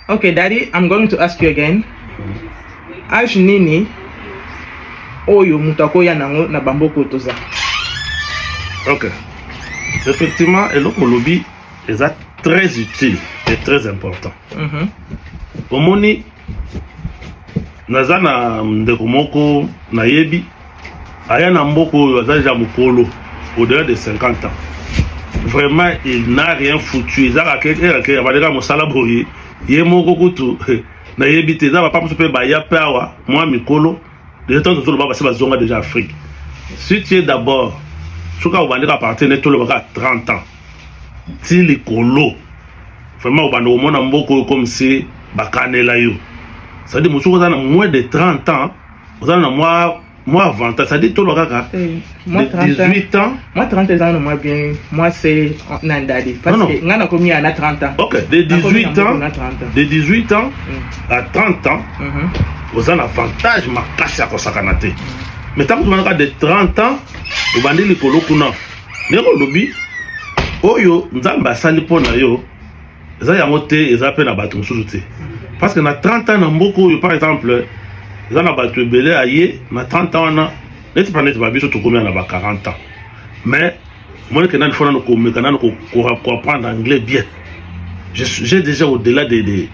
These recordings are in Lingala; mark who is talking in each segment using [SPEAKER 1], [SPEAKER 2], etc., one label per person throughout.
[SPEAKER 1] Okay, daddy, I'm going to ask you again. Age nini oyo moto akoya nango na bamboko toza?
[SPEAKER 2] Okay. Effectivement, eloko olobi eza très utile et très important. Mm -hmm. Omoni naza na ndeko moko nayebi aya na mboka oyo aza deja mokolo au-delà de 50 ans vraiment il n'a rien foutu eza kakeke abandeka mosala boye ye moko kutu nayebi te eza papa mosusu mpe baya mpe awa mwa mikolo deja ntango tozoloba basi bazonga deja afrique si tu es d'abord soki obandeka partir nde tolobaka 30 ans ti likolo vraiment obanda komona mboka oyo komisi bakanela yo cestadi mosuku oza na moins de 30 ans oza na mwa mwa avantage cestadire tolwa kaka eh,
[SPEAKER 1] de 18 ans
[SPEAKER 2] mwa 30 eza na mwa
[SPEAKER 1] bien mwa se na ndadi parceke ngai nakomi ya na 30 ans ok
[SPEAKER 2] de 18 ans de 18 ans mm. à 30 ans mhm. oza na avantage makasi ya kosakana te mm. mais ntango tomanaka de 30 ans obandi likolo kuna ndenge olobi oyo nzambe asali mpo na yo eza yango te eza mpe na bato mosusu te parce que na 30 ans na mboka oyo par exemple eza na bato ebele aye na 30 ans wana neti mpa neti babiso tokomia na ba 40 ans mais moneke nani fo nano komeka nano koapprendre anglais bien j'ai déjà au delà de, de,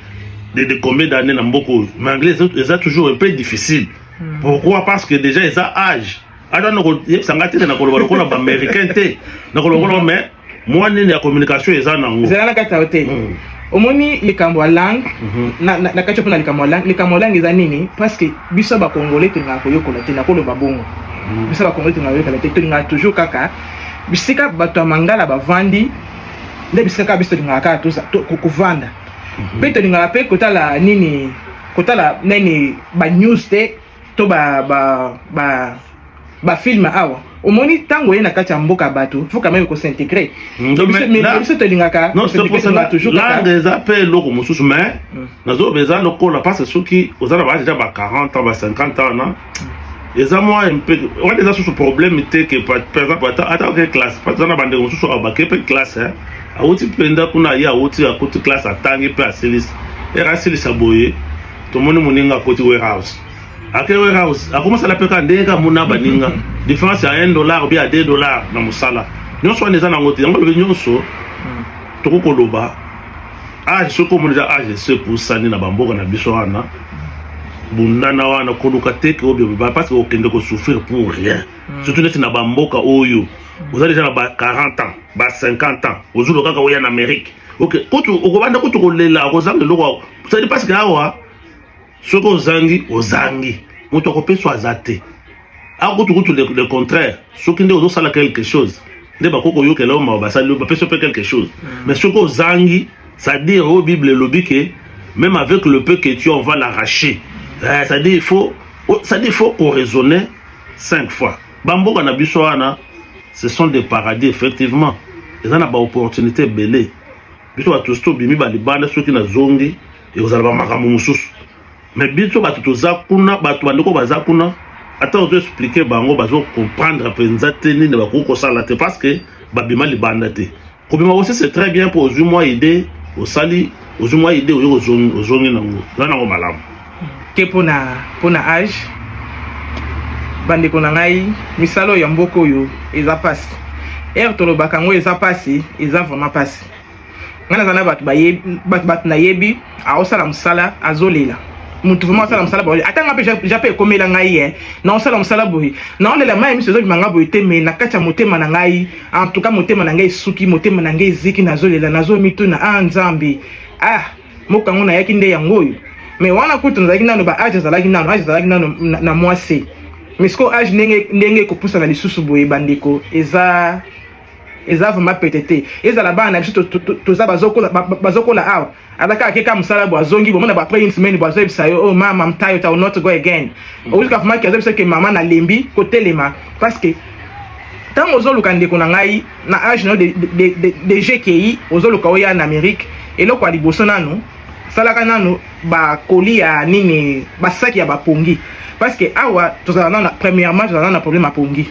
[SPEAKER 2] de, de combien d'années na mboka oyo mais anglais eza toujours un peu difficile hmm. pourquoi parce que déjà eza âge ata nakoyebisa ngai te te nakoloba lokola baaméricain te nakoloba lokola mais mwa nini ya communication eza nango ezala na kati ya hotel mm.
[SPEAKER 1] omoni likambo ya langue mhm. na kati mpona likambo ya langue likambo ya langue eza nini parce que biso bakongole tolingaka koyokola te nakoloba bongo mhm. biso bakongole tolingaka koyokola te tolingaka toujours kaka bisika bato ya mangala bavandi nde bisika kaka biso tolingaka kaka kovanda mhm. mpe tolingaka mpe kotala nini kotala nini banews te to ba ba ba ba film awa omoni ntango oye na kati ya mboka bato faut quand même ko s'intégrer mm, biso tolingaka
[SPEAKER 2] langue eza mpe eloko mosusu mais mm. nazoloba eza lokola parce que soki oza na baage eza ba 40 ans ba 50 ans na mm. eza mwa mpe wana eza susu problème te ke par exemple ata oke classe parce eza na bandeko mosusu abake mpe classe awuti mpenza kuna ye awuti akuti classe atangi mpe asilisi ere asilisa boye tomoni moninga akoti warehouse ake warehouse akomasala mpe kaka ndenge kaka mona baninga différence ya 1 dollar obi ya 2 dollar na mosala nyonso wana eza nango te yango lobi nyonso hmm. tokoki koloba age soki omoni eza age esi epusani na bamboka na biso wana bundana wana koluka teke oyo beba parce que okende kosouffrir pour rien hmm. surtout neti na bamboka oyo oza deja na ba 40 ans ba 50 ans ozoloka kaka oya na amérique ok kutu okobanda kutu kolela okozanga eloko sadi paske awa soki ozangi ozangi moto akopeswa aza te awa kutu kutu le, le contraire soki nde ozosala quelque chose nde bakoki koyokela yo mawa basali bapesi mpe quelque chose mm. mais soki ozangi c'est-à-dire oyo oh, bible elobi ke même avec le peu que tu on va l'arracher eh, c'est-à-dire il faut oh, c'est-à-dire il faut koraisonner cinq fois Ba mboka na biso wana ce sont des paradis effectivement. Eza na ba opportunités ebele. Biso ba tous bimi ba libanda soki na zongi ekozala ba makambo mosusu. Mais biso bato toza kuna, bato bandeko baza kuna, ata ozo expliquer bango bazo comprendre mpenza te nini bakoki kosala te parce que babima libanda te. Kobima aussi c'est très bien pour ozui mwa idée osali ozui mwa idée oyo ozongi ozongi nango eza nango malamu. Ke pona
[SPEAKER 1] pona âge bandeko na ngai misala ya mboka oyo eza pasi ere tolobaka yango eza pasi eza vraiment pasi ngai naza na bato bato nayebi aosala mosala azolela mutu vraiment asala mosala boye ata nga mpe ja mpe ekomela ngai ye naosala mosala boye naolela mai miso ezobima nga boye te mai na kati ya motema na ngai en tout cas motema na ngai esuki motema na ngai eziki nazolela nazomituna a ah, nzambe ah moko yango nayaki nde yango oyo mai wana kutu nazalaki nano ba age azalaki nano age azalaki nano na mwasi mais sikoyo age ndenge ndenge ekopusana lisusu boye bandeko eza eza vraiment pete te ezala bana na biso toza bazokola awa aza kaka keka mosala bo azongi bomona bo après une semaine bo azoyebisa yo oh mama mtayo ta not go again mm. oyoka vraiment ke azoyebisa ke mama nalembi kotelema parce que ntango ozoluka ndeko na ngai na age na yo de, de, de, de, de gki ozoluka oya na amérique eloko ya liboso nanu salaka nanu bakoli ya nini basaki ya bapongi parce que awa tozala nana premièrement tozala nana problème ya pongi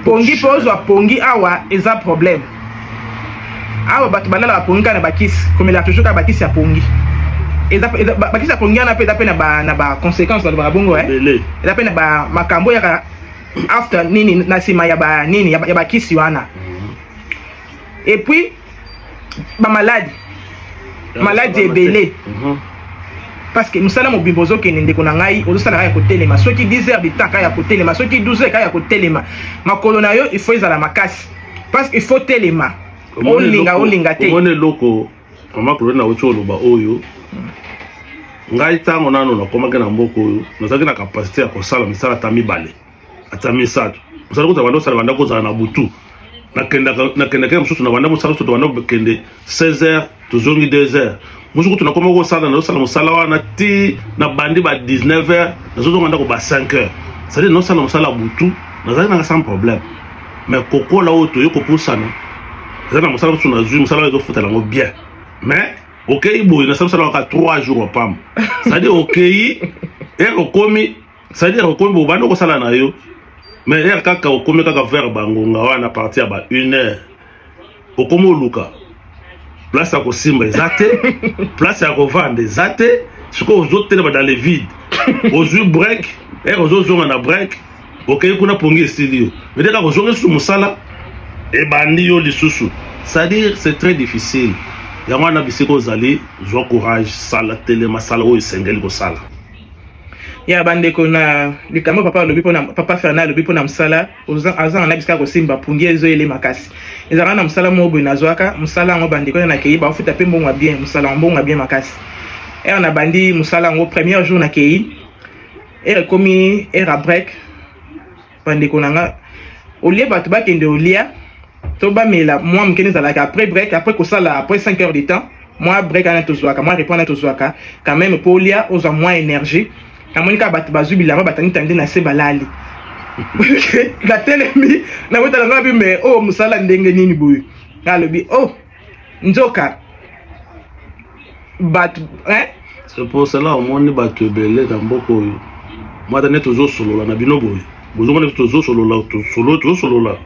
[SPEAKER 2] pongi
[SPEAKER 1] mpe ozwa pongi awa eza problème awa bato balalaka pongi kaka na bakisi komelaka toujours kaka bakisi ya pongi bakisi ya pongi wana mpe eza mpe na baconséquence balobaka bongo eh? eza mpe na makambo oyaka after nini na nsima ya banini ya bakisi wana mhm. epuis ba maladi maladi ebele mhm. parce que mosala mobimba ozokende ndeko na ngai ozosala kaka ya kotelema soki 10 heures de temps kaka ya kotelema soki 12 heures kaka ya kotelema makolo na yo il faut ezala makasi parce que il faut telema olinga olinga te omoni eloko
[SPEAKER 2] mama koloni na oti oloba oyo ngai ntango nano nakomaki na mboka oyo nazalaki na kapasite ya kosala misala ata mibale ata misato mosala kozala banda osala banda kozala na butu nakendaka mosusu na banda mosala soto banda kokende 16 heures tozongi 2 heures mosusu kutu nakoma kosala nazosala mosala wana ti na bandi ba 19 heures nazozonga ndako ba 5 heures cetadire naosala mosala butu nazali nanga sans problème mais kokola oyo toye kopusana eza na mosala mosusu nazwi mosala oyo ezofutala yango bien mais okei boye nasala mosala waka 3 jours wapamba cetadire okei e okomi ça dire okomi bobanda okosala na yo mais heure kaka okomi kaka vers bangonga wana parti ya ba une heure okomi oluka place ya kosimba eza te place ya kovanda eza te sikoyo ozotelema dans le vide ozwi break heure ozozonga na break okei kuna pongi esili yo mede kaka ozongi lisusu mosala ebandi yo lisusu c'est-à-dire c'est très difficile yango wana bisika ozali zwa courage sala telema sala oyo esengeli kosala
[SPEAKER 1] ya bandeko na likambo papa alobi mpona papa fernand alobi mpo na mosala azanga na bisika kosimba pungi ezo ele makasi ezalaka na mosala moko boye nazwaka mosala yango bandeko na nakei baofuta mpe mbongo ya bien mosala ya mbongo ya bien makasi ere nabandi mosala yango premier jour nakei ere ekomi ere ya break Bandeko na nga olie bato bakende olia to bamela mwa moke nde ezalaka après break après kosala après 5 heures de temps mwa break wana tozwaka mwa repona tozwaka quand même mpo olia ozwa mwa énergie namoni kaka bato bazwi bilamba batanitandi na se balali natelemi nakotala nga bi me oyo oh, mosala ndenge nini boye alobi oh nzoka bato hein? c'est pour
[SPEAKER 2] cela omoni bato ebele na mboka oyo mwata nde tozosolola na bino boye bozomona biso tozosolola tosolo tozosolola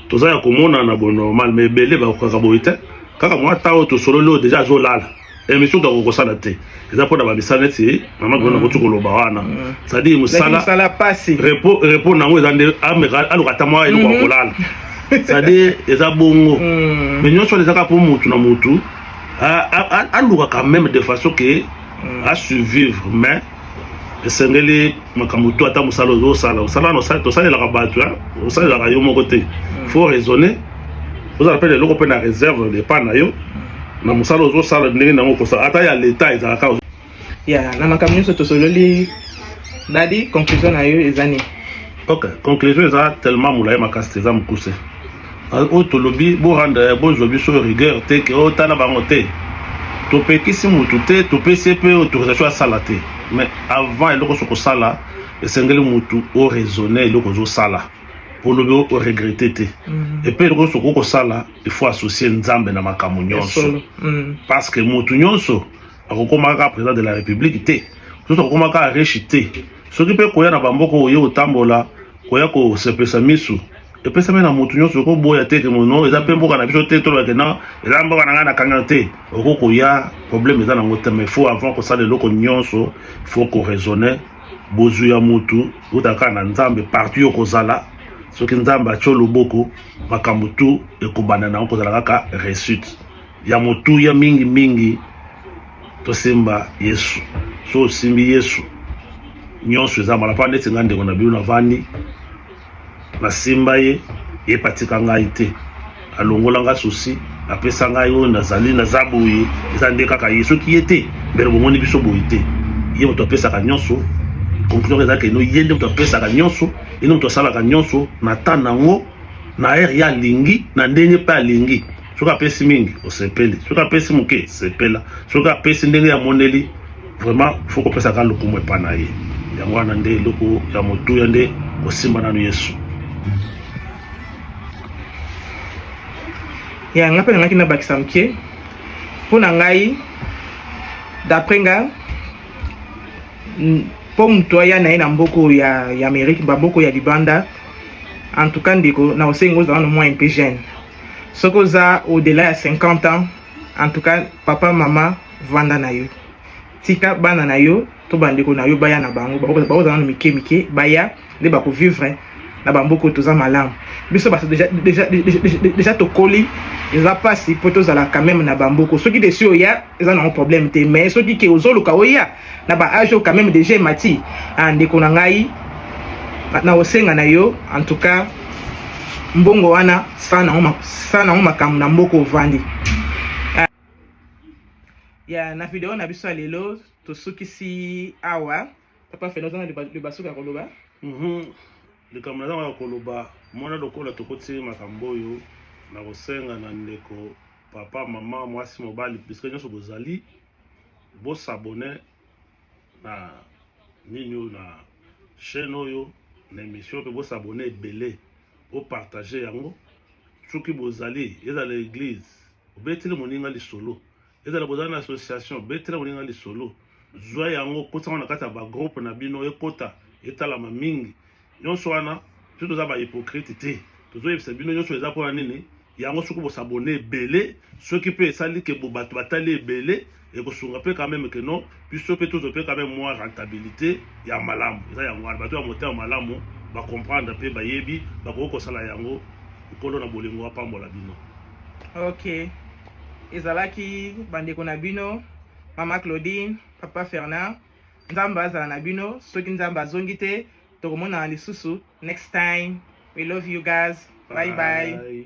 [SPEAKER 2] toza ya komonana bonormal ma ebele bakokaka boye te kaka mwata oyo tosololi oyo deja azolala emission toko kosala te eza mpo na bamisala neti mama gona koti koloba wana cestadire mosala repo na yango eza nde aluka ata mwa eloko ya kolala cestadire eza bongo mais nyonso wana ezaka mpo motu na motu alukaka meme de façon ke asurvivre mais esengeli makambo to ata mosala ozosala osala wana tosalelaka bato osalelaka yo moko te mm. faut raisonner ozala mpe na eloko mpe na réserve depa na yo na mosala ozosala ndenge nango okosala ata ya leta ezalaka ya na
[SPEAKER 1] makambo nyonso tosololi dadi conclusion na yo eza nini ok conclusion
[SPEAKER 2] eza tellement molai makasi te eza mokuse oyo tolobi boranda ya bozwa biso rigueur te ke oyo oh, tala bango te topekisi motu te topesi ye mpe autorisation asala te mais avant eloko so kosala esengeli motu oraisonne eloko ozosala olobi oregrete te mhm. epe eloko nyonso okoki kosala ifaut associe nzambe na makambo nyonso mhm. parce que motu nyonso akokomaka kaka président de la république te soki akokomaka kaka riche te soki mpe koya na bamboka oyo otambola koya kosepelisa misu epesami na motu nyonso okoboya te kemono eza mpe mboka na biso te tolobake na eza mboka na ngai na kanga te oko koya problème eza nango te mais faut avant kosala eloko nyonso faut koraisonne bozwi ya motu otaka na nzambe parti yo kozala soki nzambe atyo loboko makambo tu ekobanda nango kozala kaka réussite ya motuya mingi mingi tosimba yesu so osimbi yesu nyonso eza mala mpa neti ngai ndeko na bino navandi nasimba ye ye mpe atika ngai te alongola ngai susi apesa ngai oyo nazali naza boye eza nde kaka ye soki ye te mbele bomoni biso boye te ye moto apesaka nyonso conclusion eza keno ye nde moto apesaka nyonso ye nde moto asalaka nyonso na temps na yango na ere ye alingi na ndenge mpe alingi soki apesi mingi osepeli soki apesi moke sepela soki apesi ndenge ya moneli vraiment fo kopesaka lokumu epa na ye yango wana nde eloko ya motuya nde kosimba nanu yesu
[SPEAKER 1] ya ngai mpe nangaki nabakisa moke mpo na ngai d'après nga mpo moto aya na ye na mboko ya, ya amerike bamboko ya libanda en tout cas ndeko na osengi ozala na mwa mpe jeune soki oza au delà ya 50 ans en tout cas papa mama vanda na yo tika bana na yo to bandeko na yo baya na bango bakozala nano mike mike baya nde bakovivre na bamboka oyo toza malamu biso bato deja tokoli eza mpasi mpo tozala quand même na bamboka soki desi oya eza nango problème te mais soki ke ozoluka oya na ba age quand même déjà emati ah, ndeko na ngai na osenga na yo en tout cas mbongo wana sa nango makambo na mboka ovandi ah, ya na video na biso ya lelo tosukisi awa papa fela oza na libasuka ya koloba mhm.
[SPEAKER 2] likambo nazanga ya koloba mwana lokola tokoti makambo oyo na kosenga na ndeko papa mama mwasi mobali bisika nyonso bozali bosabone na nini oyo na chaîne oyo na émission mpe bosabone ebele bopartage yango soki bozali ezala eglise obeteli moninga lisolo ezala bozala na association betela boninga lisolo zwa yango kosango na kati ya bagroupe na bino ekota etalama mingi nyonso wana biso toza bahypocrite te tozoyebisa bino nyonso eza mpona nini yango soki bosabone ebele soki mpe esali ke bato batali ebele ekosunga mpe kameme keno biso mpe tozo mpe kame mwa rentabilité ya malamu eza yango wana bato ya motema malamu bacomprendre mpe bayebi bakoki kosala yango nkolo na bolingo apambola bino ok
[SPEAKER 1] ezalaki bandeko na bino mama claudine papa fernand nzambe azala na bino soki nzambe azongi te tokomonana lisusu next time we love you guys bye bye, bye.